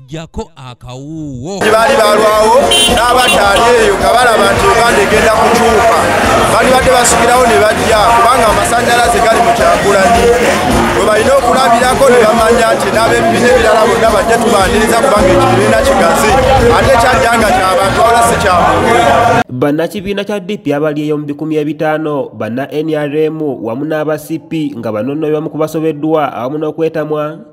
jjako akawuuwo baali balwawo n'abataali eyo nga balaba nti uganda egenda kukyuka balibadde basikirawo ne bajja kubanga amasanyalaze gali mu kyakulani we balina okulabirako ne bamanya nti n'abebibiina ebirala bonna bajja tubaniriza kubanga ekibiina kigazi ate kyajja nga kyabantu wala si kyamuntu bannakibiina kya dp abali eyo mu bikumi ebitaano banna nrm wamu n'aba cp nga banonoebwa mu kubasobeddwa awamu n'okwetamwa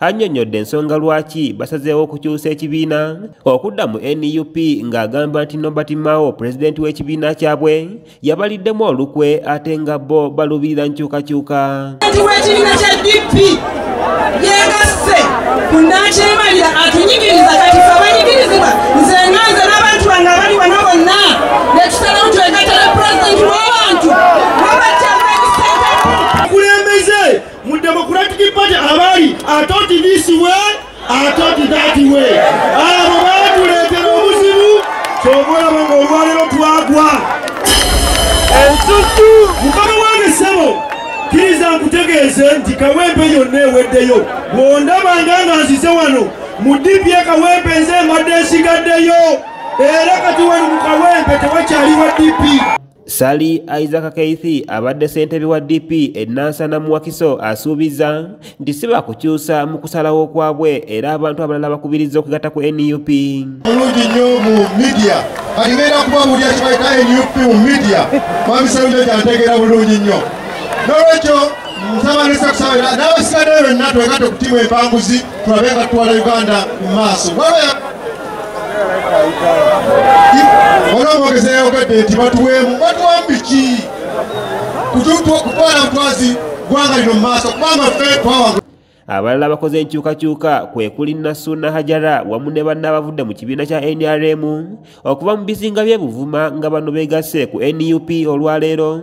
Annyonnyodde ensonga lwaki basazeewo okukyusa ekibiina okudda mu nup ng'agamba nti Nobert Mao pulezidenti w'ekibiina kyabwe yabaliddemu olukwe ate nga bo baluubirira nkyukakyuka w'ekibiina kya DP yeegasse ku nnaakyemalira atunyigiriza kati fe abanyigirizibwa nze nga nze n'abantu bange abali wano bonna ne tusalawo twegattala pulezidenti w'abantu mu democratic party abali atoti this way atoti that way abo batuleetera obuzibu kyova olaba nga olwaliro twagwa ensusu mukama wange ssebo kiriza nkutegeeze nti kawempe yonna eweddeyo bwondaba nga nga nzize wano mu dipi ekawempe nze mbadde nsigaddeyo era kati wali mu kawempe tewakyali wa dipi Sali Isaac Keithi abadde ssentebe wa DP e Nansana mu Wakiso asuubizza nti si baakukyusa mu kusalawo kwabwe era abantu abalala bakubirizza okugatta ku nup mulungi nnyo mu midia kalibeera kuba mulya kibaita nup mu midia mwamisalunjo kyantegeera bulungi nnyo nolwekyo musabanesakusabira n'abasigaddeyo benna twegate okutimu empanguzi tulabe nga tutwala uganda mu maaso olwomwogeza yayogadde nti batuweemu batuwambiki kutwala mutwazi gwanga lino mumaaso kubanga fe twawanga abalala abakoze enkyukakyuka kwe kuli nassuuna hajara wamu ne banna abavudde mu kibiina kya nrm okuva mu bizinga by'e buvuma nga bano beegasse ku nup olwaleero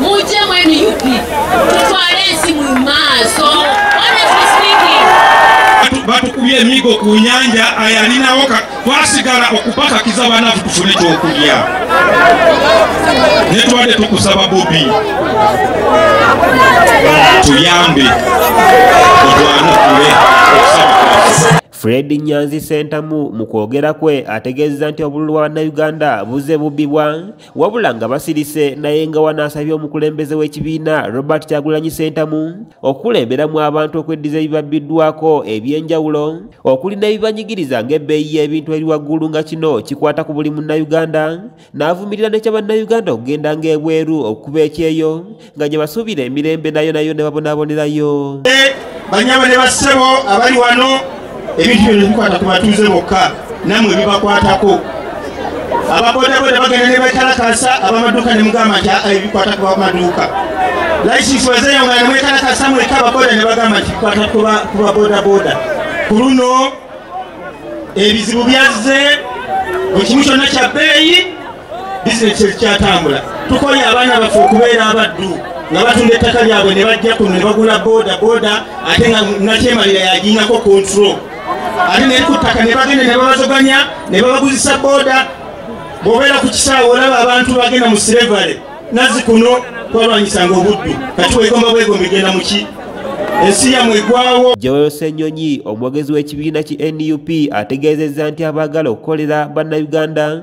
mujje mwenu up tutwale ensi mu maaso batukubye emigo ku nyanja ayalinawo twasigala okupakakiza banafu tufune ekyokulya netubadde tukusaba bobi tuyambe otwanukule okusaba Fred Nyanzi Sentamu mu kwogera kwe ategeezza nti obululu bwa Bannayuganda buzze bubbibwa wabula nga basirise naye nga wanaasabye omukulembeze w'ekibiina robert kyagulanyi sentamu okukulemberamu abantu okweddiza ebibabbiddwako eby'enjawulo okuli n'ebibanyigiriza ng'ebbeeyi y'ebintu eri waggulu nga kino kikwata ku buli munnayuganda n'avumirira ne kya bannayuganda okugenda ng'ebweru okukuba ekyeyo nga gye basuubira emirembe nayo nayo ne babonabonerayo banyama ne bassebo abali wano ebintu bino bikwata ku batuuze bokka namwe bibakwatako ababodaboda bagenda ne bekalakasa abamaduuka ne mugamba nti aa ebikwata ku bamaduuka laisisi wazeyo nga nemwekalakasa mweka ababoda ne bagamba nti bikwata ku babodaboda ku luno ebizibu byazze buli kimu kyonna kya bbeeyi bizinesi ezikyatambula tukoye abaana baffe okubeera abaddu nga batunda ettaka lyabwe ne bajja kuno ne bagula boda boda ate nga nakyemalira yagiinako kontro ate naye ku ttaka ne bagenda ne babazoganya ne babaguzisa boda bwobeera ku kisaawe olaba abantu bagenda mu silevale nazi kuno kwalwanyisanga obuddu kati wegomba bwegomba egenda muki ensi yamwe egwawo joel senyonyi omwogezi w'ekibiina ki nup ategeezezza nti abaagala okukolera bannayuganda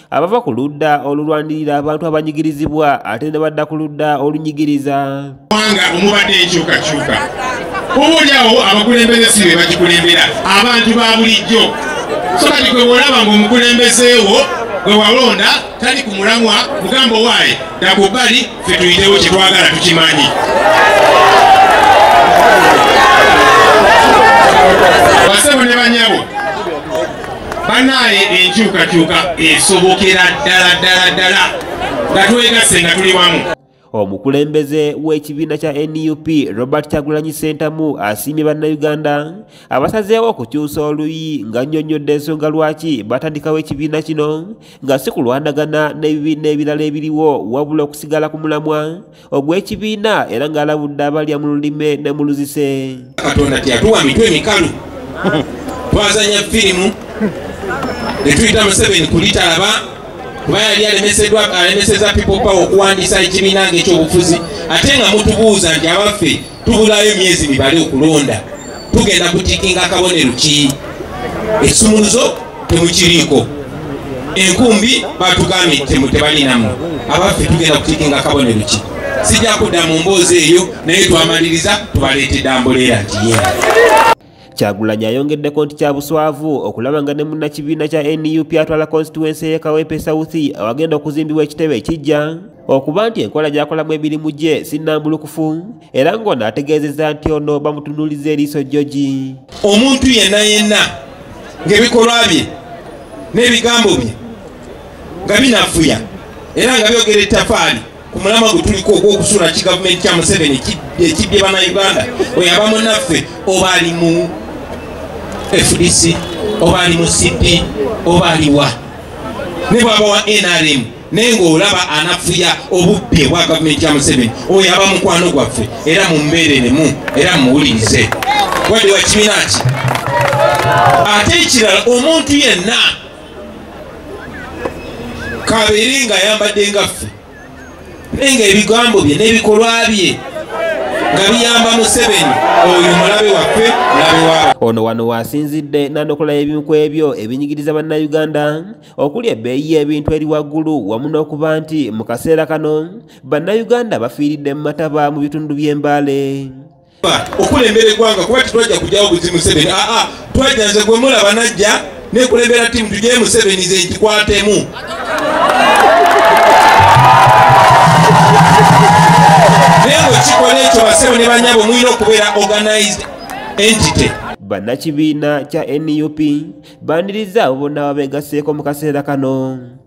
abava ku ludda olulwanirira abantu abanyigirizibwa ate ne badda ku ludda olunyigiriza kubanga omubadde enkyukakyuka obaolyawo abakulembeze si be bagikulembera abantu ba bulijjo so kati gwe bwolaba ngaomukulembezeewo gwe walonda tali ku mulamwa mugamba owaaye dakubbali fe tuyitewo kye twagala tukimanyi banaye enkyukakyuka esobokera ddala ddala ddala nga twegasse nga tuli wamu omukulembeze w'ekibiina kya nup robert kyagulanyi sentamu asiimye bannayuganda abasazeewo okukyusa oluyi nga nnyonnyodde ensonga lwaki batandikawo ekibiina kino nga si kulwanagana n'ebibiina ebirala ebiriwo wabula okusigala ku mulamwa ogw'ekibiina era ng'alabudde abalya mu lulime ne mu luzise katonda teyatuwa mitwe mikalu twazanya firimu netuyita museveni kulitalaba kuba yali alemeseddwa alemeseza people power okuwandiisa ekibiina ngaekyobufuzi ate nga mutubuuza nti abaffe tubulayo emyezi mibale okulonda tugenda kutikinga akabonero ki ekisumuluzo temukiriiko enkumbi batugambye temu tebalinamu abaffe tugenda kutikinga akabonero ki sijja kudda mu mboozi eyo naye twamaliriza tubaleetedde ambuleera nti yee Kyagulanyi ayongeddeko nti kya buswavu okulaba nga ne munnakibiina kya nup atwala konsituwensi eye Kawempe South awagenda okuzimbibwa ekitebe ekijja okuba nti enkola gyakolamu emirimu gye sinnambulukufu era ng'ono ategeezezza nti ono bamutunuuliza eriiso jjogi omuntu yenna yenna ng'ebikolwa bye n'ebigambo bye nga binafuya era nga byogera ettafaali ku mulama gwe tuliko ogw'okusula ki gavumenti kya museveni ekibbye bana uganda oyo aba munaffe oba ali mu fdc oba ali mu cp oba aliwa ne bwaba wa nrm naye ng'olaba anafuya obubbi obwa gavumenti ya museveni oyo aba mukwano gwaffe era mumbeereremu era mumuwulirize wadde wa kibiina ki ate ekirala omuntu yenna kabeere nga ayambadde nga ffe naye nga ebigambo bye n'ebikolwa bye nga biyamba museveni oyo mulabe waffe mulabe wabo ono wano waasinzidde n'anokola ebimu ku ebyo ebinyigiriza bannayuganda okuli ebbeeyi y'ebintu eri waggulu wamu n'okuba nti mu kaseera kano bannayuganda bafiiridde mu mataba mu bitundu by'embaale okulembera eggwanga kuba tetwajja kujjawo buzi museveni aa twajja nze gwe mulaba najja nekulembera timu tugye museveni ze nkikwatemu naye bwekikola ekyo basebo ne banyabo mulina okubeera organized entity bannakibiina kya nup bandirizza abo bonna babeegaseeko mu kaseera kano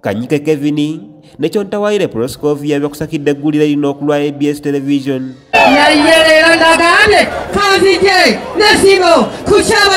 Kanyike Kevin ne Kyontawayire Proscovia byakusakidde eggulire lino okulwa ABS Television. Naye leero ndagaane kanzije n'essimu ku kyaba